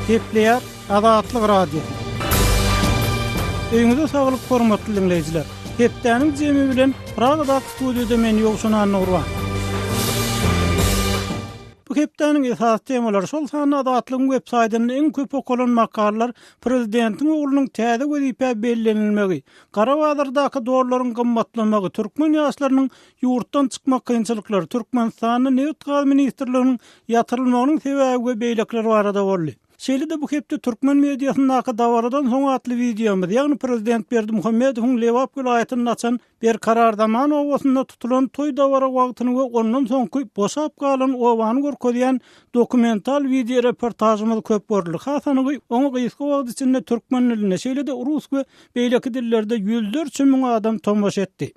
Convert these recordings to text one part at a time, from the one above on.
Gepleýär Azatlyk Radiosy. Öýüňize saglyk, hormatly diňleýjiler. Hepdäniň jemi bilen Pragada studiýada men Ýowşan Annagurban. Bu hepdäniň esasy temalary, şol sanda Azatlygyň web saýtynda iň köp okalan makalalar, prezidentiň oglunyň täze wezipä bellenilmegi, gara bazardaky dollaryň gymmatlamagy, türkmen ýaşlarynyň Ýurtdan çykmak kynçylyklary, Türkmenistanda nebit-gaz ministrliginiň ýatyrylmagynyň sebäbi we beýlekiler barada boldy. Şeýle-de bu hepde türkmen mediasyndaky Dabaradan soň atly wideomyz, ýagny prezident Berdimuhamedowyň Lebap welaýatynda açan Berkarar zaman obasynda tutulan toý-dabara wagtyny we ondan soňky boşap galan obany görkezýän dokumental wideoreportažymyz köp görüldi. Has anygy, oňa gysga wagt içinde türkmen dilinde, şeýle-de rus we beýleki dillerde ýüzlerçe müň adam tomaşa etdi.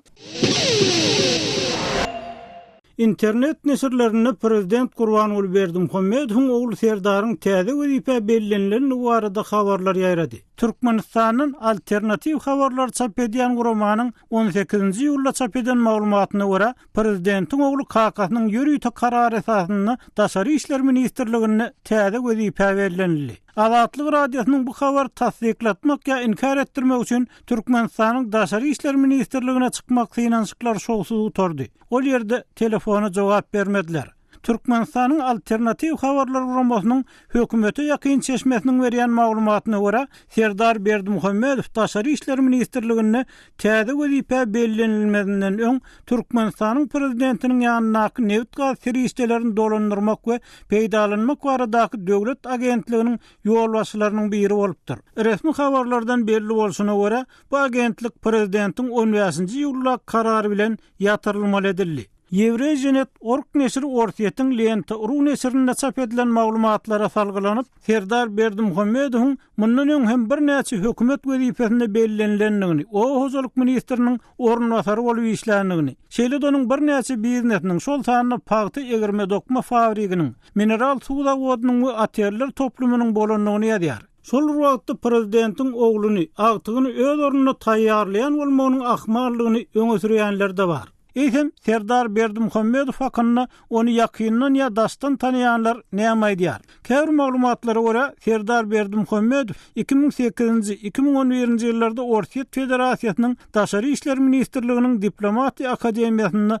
Internet neşirlerinde prezident Gurbanguly Berdimuhamedowyň ogly Serdaryň täze wezipä bellenilendigi barada habarlar ýaýrady. Türkmenistandan alternatiw habarlary çap edýän guramanyň on sekizinji iýulda çap eden maglumatyna görä, prezidentiň ogly kakasynyň ýörite karary esasynda Daşary işler ministrliginde täze wezipä bellenildi. Azatlyk Radiosynyň bu habary tassyklatmak ýa inkär etdirmek üçin Türkmenistanyň Daşary işler ministrligine çykmak synanyşyklary şowsuz gutardy. Ol ýerde telefona jogap bermediler. Türkmenistanyň Alternatiw habarlar guramasynyň hökümete ýakyn çeşmesiniň berýän maglumatyna görä, Serdar Berdimuhamedow Daşary işler ministrliginde täze wezipä bellenilmezinden öň Türkmenistanyň prezidentiniň ýanyndaky nebit-gaz serişdelerini dolandyrmak we peýdalanmak baradaky döwlet agentliginiň ýolbaşçylarynyň biri bolupdyr. Resmi habarlardan belli bolşuna görä, bu agentlik prezidentiň on bäşinji iýuldaky karary bilen ýatyrylmaly edildi. Ýewreýženet org neşiri Orsýetiň Lenta.ru neşirinde çap edilen maglumatlara salgylanyp, Serdar Berdimuhamedowyň mundan öň hem birnäçe hökümet wezipesinde bellenilendigini, oba hojalyk ministriniň orunbasary bolup işländigini, şeýle-de onuň birnäçe biznesiniň, şol sanda pagta egirme-dokma fabriginiň, mineral suw zawodynyň we oteller toplumynyň bolandygyny ýazýar. Şol bir wagtda prezidentiň ogluny, agtygyny öz ornuna taýýarlaýan bolmagynyň ahmaldygyny öňe sürýänler-de bar. Eýsem, Serdar Berdimuhamedow hakynda ony ýakyndan ýa daşdan tanaýanlar näme aýdýar? Käbir maglumatlara görä, Serdar Berdimuhamedow iki müň sekizinji, iki müň on birinji ýyllarda Orsýet Federasiýasynyň Daşary işler ministrliginiň Diplomatiýa akademiýasynda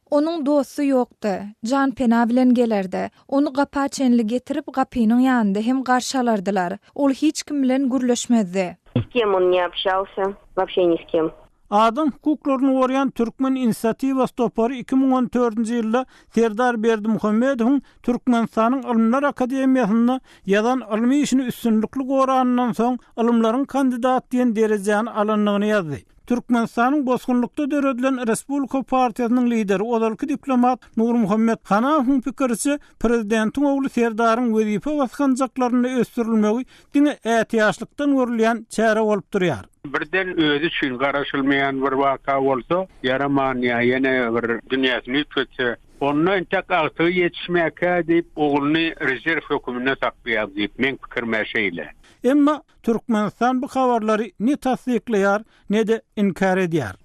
Onuň dosty ýokdy. Janpena bilen gelerdi. Ony gapa çenli getirip, gapynyň ýanynda hem garşy alardylar. Ol hiç kim bilen gürleşmezdi. Ni s kem on ne obşalsýa, wobşe ni s kem. Adam hukuklaryny goraýan Türkmen inisiatiwasy topary iki müň on dördünji ýylda Serdar Berdimuhamedowyň Türkmenistanyň Ylymlar akademiýasynda ýazan ylmy işini üstünlikli goranyndan soň ylymlaryň kandidati diýen derejäni alandygyny ýazdy. Türkmenistanyň bosgunlykda döredilen Respublika partiýasynyň lideri, ozalky diplomat Nurmuhammet Hanafowyň pikiriçe, prezidentiň ogly Serdaryň wezipe basgançaklarynda ösdürilmegi diňe ätiýaçlykdan görülýän çäre bolup durýar. Birden özi üçin garaşylmaýan bir waka bolsa ýaraman ýa ýene bir dünýäsini üýtgetse, onda entek agtygy ýetişmäkä diýip, ogluny rezerw höküminde saklaýar diýip, meň pikirim-ä şeýle. Emma Türkmenistan bu habarlary ne tassyklaýar, ne-de inkär edýär.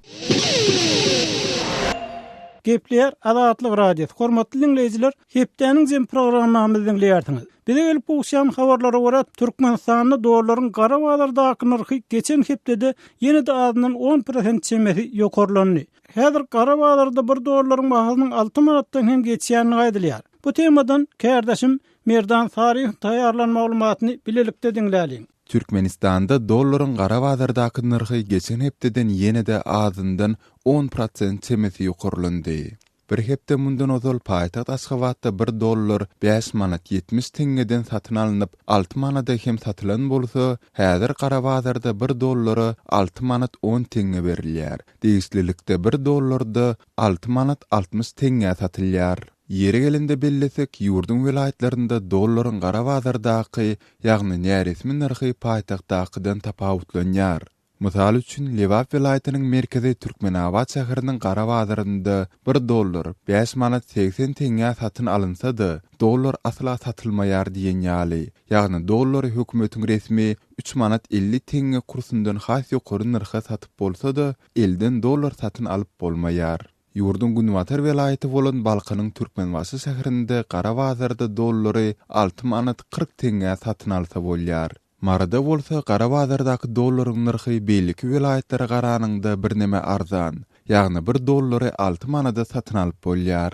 Gepleýär Azatlyk Radiosy. Hormatly diňleýjiler, hepdäniň jemi programmamyzy diňleýärsiňiz. Bize gelip gowuşýan habarlara görä, Türkmenistanda dollaryň gara bazardaky nyrhy geçen hepdede ýene-de azyndan on prosent çemesi ýokarlandy. Häzir gara bazarda bir dollaryň bahasynyň alty manatdan hem geçýändigi aýdylýar. Bu temadan kärdeşim Merdan Saryýewiň taýýarlan maglumatyny bilelikde diňläliň. Türkmenistanda dollaryň gara bazardaky nyrhy geçen hepdeden ýene-de azyndan on prosent çemesi ýokarlandy. Bir hepde mundan ozal paýtagt Aşgabatda bir dollar bäş manat ýetmiş teňňeden satyn alnyp, alty manada hem satylan bolsa, häzir gara bazarda bir dollara alty manat on teňňe berilýär. Degişlilikde bir dollarda alty manat altmyş teňňä satylýar. Ýeri gelende bellesek, ýurduň welaýatlarynda dollaryň gara bazardaky, ýagny näresmi nyrhy paýtagtdakydan tapawutlanýar. Mysal üçin, Lebap welaýatynyň merkezi Türkmenabat şäheriniň gara bazarynda bir dollar bäş manat segsen teňňä satyn alynsa-da, dollar asla satylmaýar diýen ýaly. Ýagny dollary hökümetiň resmi üç manat elli teňňe kursundan has ýokary nyrha satyp bolsa-da, elden dollar satyn alyp bolmaýar. Ýurduň günbatar welaýaty bolan Balkanyň Türkmenbaşy şäherinde gara bazarda dollary alty manat kyrk teňňä satyn alsa bolýar. Maryda bolsa gara bazardaky dollaryň nyrhy beýleki welaýatlara garanyňda birneme arzan, ýagny bir dollary alty manada satyn alyp bolýar.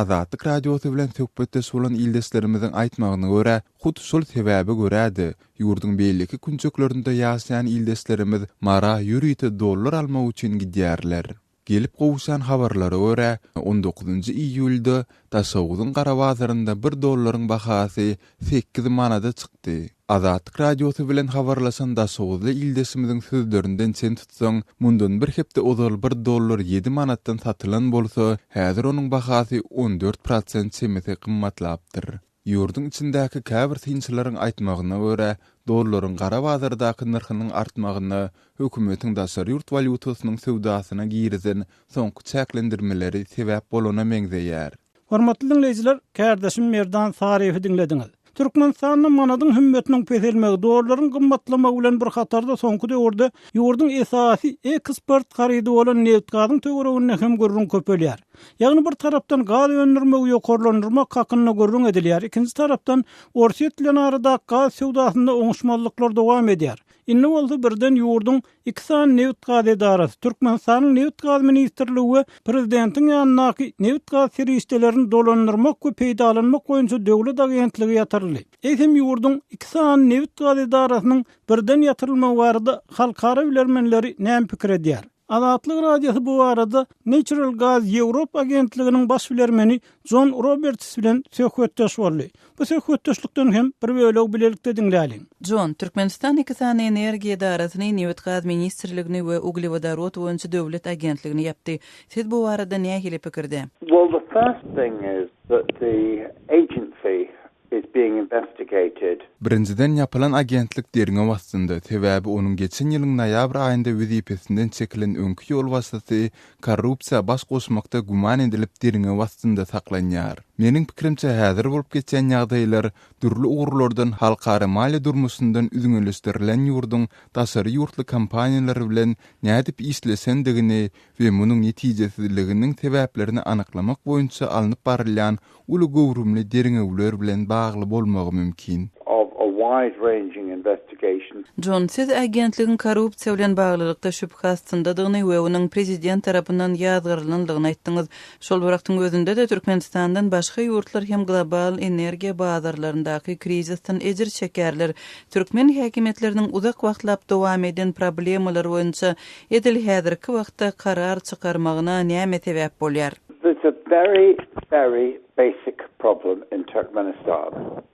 Azatlyk Radiosy bilen söhbetdeş bolan ildeşlerimiziň aýtmagyna görä, hut şol sebäbe görä-de, ýurduň beýleki künjeklerinde ýaşaýan ildeşlerimiz Mara ýörite dollar almak üçin gidýärler. Gelip gowuşan habarlara görä, on dokuzynjy iýulda Daşoguzyň gara bazarynda bir dollaryň bahasy sekiz manada çykdy. Azatlyk Radiosy bilen habarlaşan daşoguzly ildeşimiziň sözlerinden çen tutsaň, mundan bir hepde ozal bir dollar ýedi manatdan satylan bolsa, häzir onuň bahasy on dört prosent çemesi gymmatlapdyr. Ýurduň içindäki käbir synçylaryň aýtmagyna görä, dollaryň gara bazardaky nyrhynyň artmagyna hökümetiň daşary ýurt walýutasynyň söwdasyna girizen soňky çäklendirmeleri sebäp bolana meňzeýär. Hormatly diňleýjiler, kärdeşim Merdan Saryýewi diňlediňiz. Türkmenistanda manadyň hümmetiniň peselmegi, dollaryň gymmatlamagy bilen bir hatarda soňky döwürde ýurduň esasy eksport harydy bolan nebit-gazyň töwereginde hem gürrüň köpelýär. Ýagny bir tarapdan gaz öndürmegi ýokarlandyrmak hakynda gürrüň edilýär, ikinji tarapdan Orsýet bilen aradaky gaz söwdasynda oňuşmazlyklar dowam edýär. Indi bolsa birden ýurduň iki sany nebit-gaz edarasy, Türkmenistanyň Nebit-gaz ministrligi we prezidentiň ýanyndaky Nebit-gaz serişdelerini dolandyrmak we peýdalanmak boýunça döwlet agentligi ýatyryldy. Eýsem ýurduň iki sany nebit-gaz edarasynyň birden ýatyrylmagy barada halkara bilermenleri näme pikir edýär? Azatlyk Radiosy bu barada Natural Gas Europe agentliginiň baş bilermeni Jon Roberts bilen söhbetdeş boldy. Bu söhbetdeşlikden hem bir bölegi bilelikde diňläliň. Jon, Türkmenistan iki sany energiýa edarasyny, Nebitgaz ministrligini we Uglewodorod boýunça döwlet agentligini ýapdy. Siz bu barada nähili pikirde? Well, the first thing is that the agency is being investigated. Birinjiden ýapylan agentlik derňew astynda, sebäbi onuň geçen ýylyň noýabr aýynda wezipesinden çekilen öňki ýolbaşçysy korrupsiýa baş goşmakda güman edilip derňew astynda saklanýar. Meniň pikirimçe häzir bolup geçýän ýagdaýlar dürli ugurlardan halkara maliýe durmuşyndan üzňeleşdirilen ýurduň daşary ýurtly kompaniýalar bilen nädip işleşendigini we munuň netijesizliginiň sebäplerini anyklamak boýunça alnyp barylýan uly göwrümli derňewler bilen bagly bolmagy mümkin. Jon, siz agentligiň korrupsiýa bilen baglylykda şübhe astyndadygyny we onuň prezident tarapyndan ýazgarylandygyny aýtdyňyz. Şol bir wagtyň özünde-de Türkmenistandan başga ýurtlar hem global energiýa bazarlaryndaky krizisden ejir çekerler. Türkmen häkimiýetleriniň uzak wagtlap dowam eden problemalar boýunça Edil häzirki wagtda karar çykarmagyna näme sebäp bolýar? This a very very basic problem in Turkmenistan.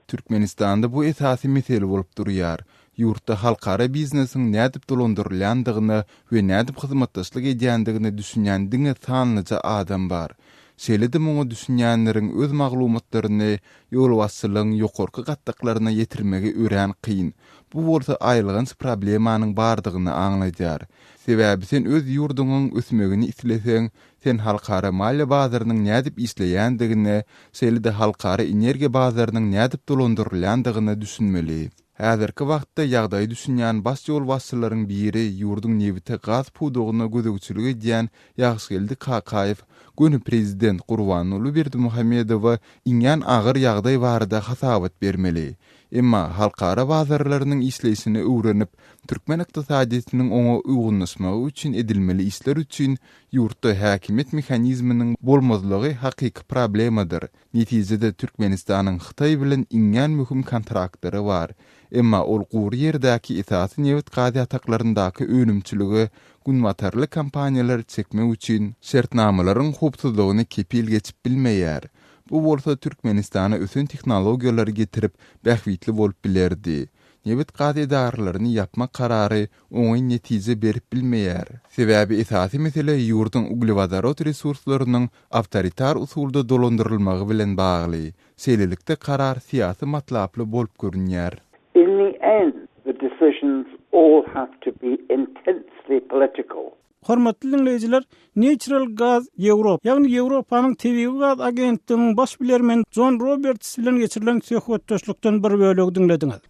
Türkmenistanda bu esasy mesele bolup durýar. Ýurtda halkara biznesiň nädip dolandyrylýandygyna we nädip hyzmatdaşlyk edýändigine düşünýän diňe sanlyja adam bar. Şeýle-de muňa düşünýänleriň öz maglumatlaryny ýolbaşçylygyň ýokarky gatlaklaryna ýetirmegi örän kyn. Bu bolsa aýylganç problemanyň bardygyny aňladýar. Sebäbi sen öz ýurduňyň ösmegini isleseň, sen halkara maliýe bazarynyň nädip işleýändigine, şeýle-de halkara energiýa bazarynyň nädip dolandyrylýandygyna düşünmeli. Häzirki wagtda ýagdaýa düşünýän baş ýolbaşçylaryň biri, ýurduň nebite gaz pudagyna gözegçilik edýän Ýagşygeldi Kakaýew göni prezident Gurbanguly Berdimuhamedowa iňňän agyr ýagdaý barada hasabat bermeli. Emma halkara bazarlarynyň işleýşini öwrenip, türkmen ykdysadyýetiniň oňa uýgunlaşmagy üçin edilmeli işler üçin ýurtda häkimiýet mehanizminiň bolmazlygy hakyky problemadyr. Netijede Türkmenistanyň Hytaý bilen iňňän möhüm kontraktlary bar. Emma ol gury ýerdäki esasy nebit-gaz ýataklaryndaky önümçiligi günbatarly kompaniýalary çekmek üçin şertnamalaryň howpsuzlygyny kepil geçip bilmeýär. Bu bolsa Türkmenistana ösen tehnologiýalary getirip, bähbitli bolup bilerdi. Nebit-gaz edaralaryny ýapmak karary oňyn netije berip bilmeýär. Sebäbi esasy mesele ýurduň uglewodorod resurslarynyň awtoritar usulda dolandyrylmagy bilen bagly. Şeýlelikde karar syýasy matlaply bolup görünýär. In the end, the decisions all have to be intensely political. Hormatly diňleýjiler, Natural Gas Europe, ýagny Ýewropanyň Tebigy gaz agentliginiň baş bilermeni Jon Roberts bilen geçirilen söhbetdeşlikden bir bölegi diňlediňiz.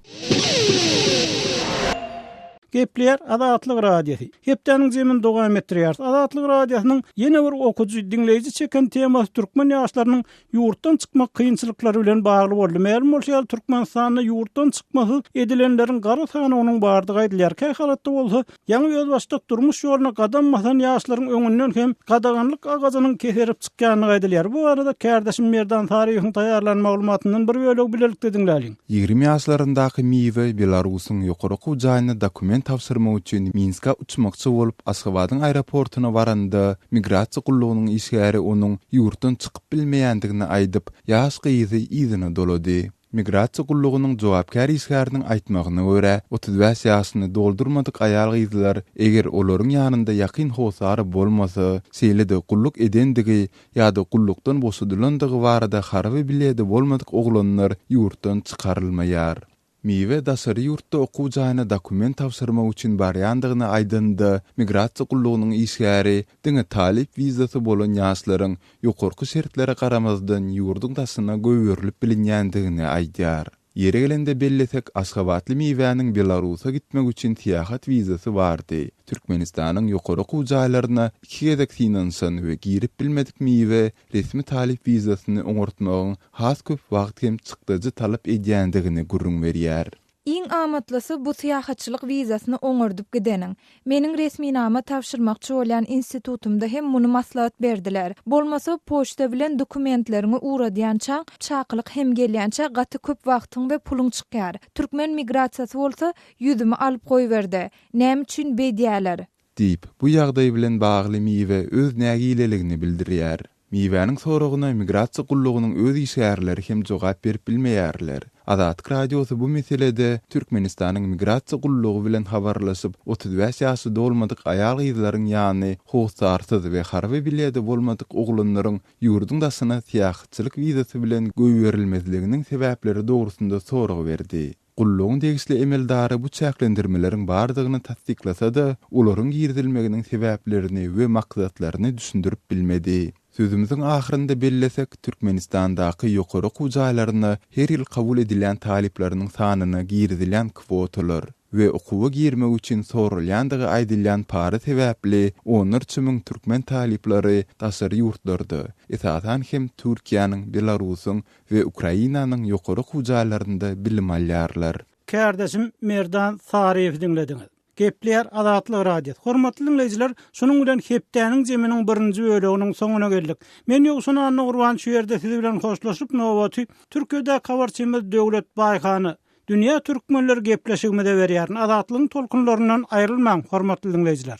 Gepleýär Azatlyk Radiosy, Hepdäniň jemini dowam etdirýäris. Azatlyk Radiosynyň ýene bir okyjy, diňleýji çeken temasy türkmen ýaşlarynyň Ýurtdan çykmak kynçylyklary bilen bagly boldy. Mälim bolşy ýaly, Türkmenistanda ýurtdan çykmasyz edilenleriň gara sanawynyň bardygy aýdylýar. Kä halatda bolsa, ýaňy özbaşdak durmuş ýoluna gadam basan ýaşlaryň öňünden hem gadaganlyk agajynyň keserip çykýandygy aýdylýar. Bu barada kärdeşim Merdan Saryýewiň taýýarlan maglumatyndan bir bölegi bilelikde diňläliň. Ýigrimi ýaşlaryndaky Miwe Belarusyň ýokary okuw jaýyna dokument tabşyrmak üçin Minske uçmakçy bolup, Aşgabadyň aeroportuna baranda, migrasiýa gullugynyň işgäri onuň ýurtdan çykyp bilmeýändigini aýdyp, ýaş gyzy yzyna dolady. Migrasiýa gullugynyň jogapkär işgäriniň aýtmagyna görä, otuz bäş ýaşyny doldurmadyk aýal-gyzlar, eger olaryň ýanynda ýakyn hossary bolmasa, şeýle-de gulluk edendigi ýa-da gullukdan boşadylandygy barada harby biledi bolmadyk oglanlar ýurtdan çykarylmaýar. Miwe daşary ýurtda okuw jaýyna dokument tabşyrmak üçin barýandygyny aýdanda, migrasiýa gullugynyň işgäri diňe talyp wizasy bolan ýaşlaryň ýokarky şertlere garamazdan ýurduň daşyna goýberilip bilinýändigini aýdýar. Ýeri gelende bellesek, aşgabatly miwäniň Belarusa gitmek üçin syýahat wizasy bardy. Türkmenistanyň ýokary okuw jaýlaryna iki gezek synanyşan we girip bilmedik miwe resmi talyp wizasyny oňartmagyň has köp wagt hem çykdajy talap edýändigini gürrüň berýär. Iň amatlysy bu syýahatçylyk wizasyny oňardyp gideniň, Meniň resminama tabşyrmakçy bolýan institutymda hem muny maslahat berdiler. Bolmasa, poçta bilen dokumentleriňi ugradýançaň, çakylyk hem gelýänçä gaty köp wagtyň we puluň çykýar. Türkmen migrasiýasy bolsa, ýüzümi alyp goýberdi. Näme üçin beýdýäler? Diýip, bu ýagdaý bilen bagly miwe öz nägileligini bildirýär. Miwäniň soragyna Migrasiýa gullugynyň öz işgärleri hem jogap berip bilmeýärler. Azatlyk Radiosy bu meselede Türkmenistanyň Migrasiýa gullugy bilen habarlaşyp, otuz bäş ýaşy dolmadyk aýal-gyzlaryň ýany hossarsyz we harby biledi bolmadyk oglanlaryň ýurduň daşyna syýahatçylyk wizasy bilen goýberilmezliginiň sebäpleri dogrusynda sorag berdi. Gullugyň degişli emeldary bu çäklendirmeleriň bardygyny tassyklasa-da, olaryň girizilmeginiň sebäplerini we maksatlaryny düşündirip bilmedi. Sözümiziň ahyrynda bellesek, Türkmenistandaky ýokary okuw jaýlaryna her ýyl kabul edilýän talyplarynyň sanyna girizilýän kwotalar we okuwa girmek üçin soralýandygy aýdylýan para sebäpli onlarça müň türkmen talyplary daşary ýurtlarda, esasan hem Türkiýäniň, Belarusyň, we Ukrainanyň ýokary okuw jaýlarynda bilim alýarlar. Kärdeşim Merdan Saryýewi diňlediňiz. Gepleýär Azatlyk Radiosy. Hormatly diňleýjiler, şunuň bilen hepdäniň jeminiň birinji böleginiň soňuna geldik. Men Ýowşan Annagurban şu ýerde siz bilen hoşlaşyp nobaty Türkiýedäki habarçymyz Döwlet Baýhana, Dünýä Türkmenleri gepleşigimize berýärin. Azatlygyň tolkunlaryndan aýrylmaň, hormatly diňleýjiler.